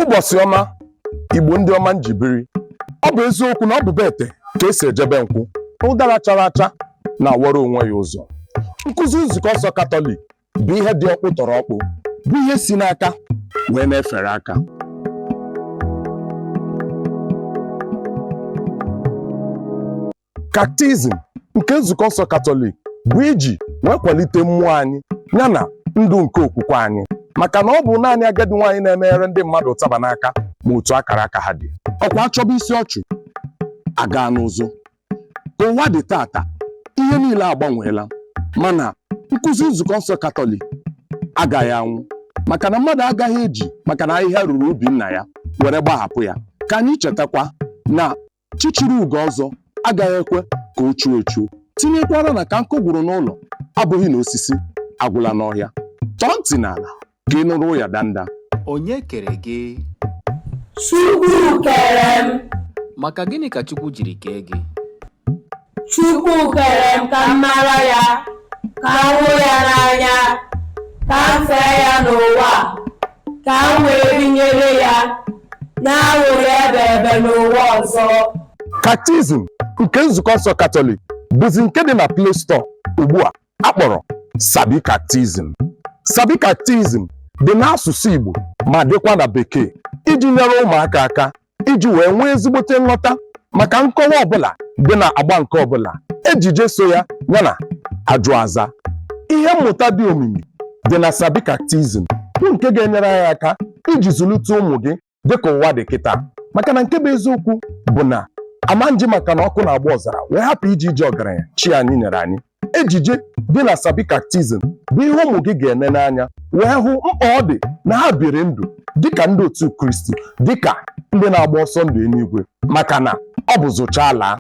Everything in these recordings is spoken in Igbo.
ụbọchị ọma igbo ndị ọma m ji biri ọ bụ eziokwu na ọ bụ be ete ka e si eje be nkwụ ụdara chara acha na-awara onwe ya ụzọ nkụzi nzukọ nsọ katọlik bụ ihe dị ọkpụ tọrọ ọkpụ bụ ihe si n'aka wee na-efere aka kaktizim nke nzukọ nsọ katọlik bụ iji wee kwalite mmụọ anyị yana ndụ nke okwukwe anyị maka na ọ bụ naanị agadi nwaanyị na-emeghere ndị mmadụ ụtaba n'aka ma otu akara aka ha dị ọ kwa a chọba isi ọchụ a gaa n'ụzụ ka ụwa dị taata ihe niile agbanweela mana nkụzi nzukọ nsọ katọlik agaghị anwụ maka na mmadụ agaghị eji maka na ahịhịa ruru ubi nna ya were gbahapụ ya ka anyị chetakwa na Chi chiri ugo ọzọ agaghị ekwe ka o chuo echuo. Tinyekwara na ka nkụ gwụrụ n'ụlọ abụghị na osisi agwụla n'ọhịa. Tọọ ntị n'ala ka ị nụrụ ụya danda. Onye kere gị? Chukwu kere m. Maka gịnị ka Chukwu jiri kee gị? Chukwu kere m ka m mara ya, ka m hụ ya n'anya, ka m fee ya n'ụwa a, ka m wee binyere ya n'anwụrị ebe ebe n'ụwa ọzọ. Kaktizim nke Nzukọ Nsọ Katọlik bụzi nke dị na Play Store ugbu a a kpọrọ Sabi Kaktizim. Sabi Kaktizim dị n'asụsụ Igbo ma dịkwa na Bekee iji nyere ụmụaka aka iji wee nwee ezigbote nghọta maka nkọwa ọbụla dị na agba nke ọbụla ejije so ya yana ajụ aza ihe mmụta dị omimi dị na sabi kaktizim bụ nke ga-enyere anyị aka iji zụlite ụmụ gị dịka ụwa dị kịta maka na nke bụ eziokwu bụ na ama m ji maka na ọkụ na-agba ọzara wee hapụ ije ije ọgaranya chi anyị nyere anyị ejije dị na Sabi Catechism bụ ihe ụmụ gị ga-ene n'anya wee hụ mkpa ọ dị na ha biri ndụ dịka ndị otu Kristi dịka ndị na-agba ọsọ ndụ eluigwe maka na ọ bụ zụchaa a laa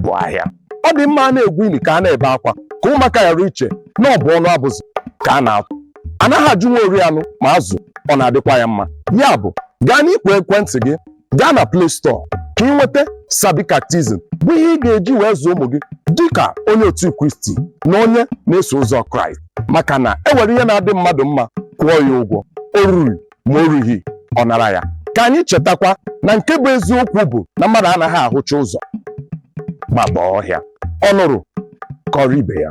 bụ ahịa ọ dị mma a na-egwu ili ka a na-ebe akwa ka ụmụaka ghara iche na ọ bụ ọnụ abụzụ ka a na-atụ anaghị ajụ nwa ori anụ ma azụ ọ na-adịkwa ya mma ya bụ gaa n'igwe ekwentị gị gaa na Play Store ka ị nweta Sabi Catechism bụ ihe ị ga-eji wee zụọ ụmụ gị dịka onye otu Kristi na onye na-eso ụzọ Kraịst maka na e were ihe na-adị mmadụ mma kwụọ ya ụgwọ o ruru ma o rughị ọ nara ya ka anyị chetakwa na nke bụ eziokwu bụ na mmadụ anaghị ahụcha ụzọ gbaba ọhịa ọ nụrụ kọọrọ ibe ya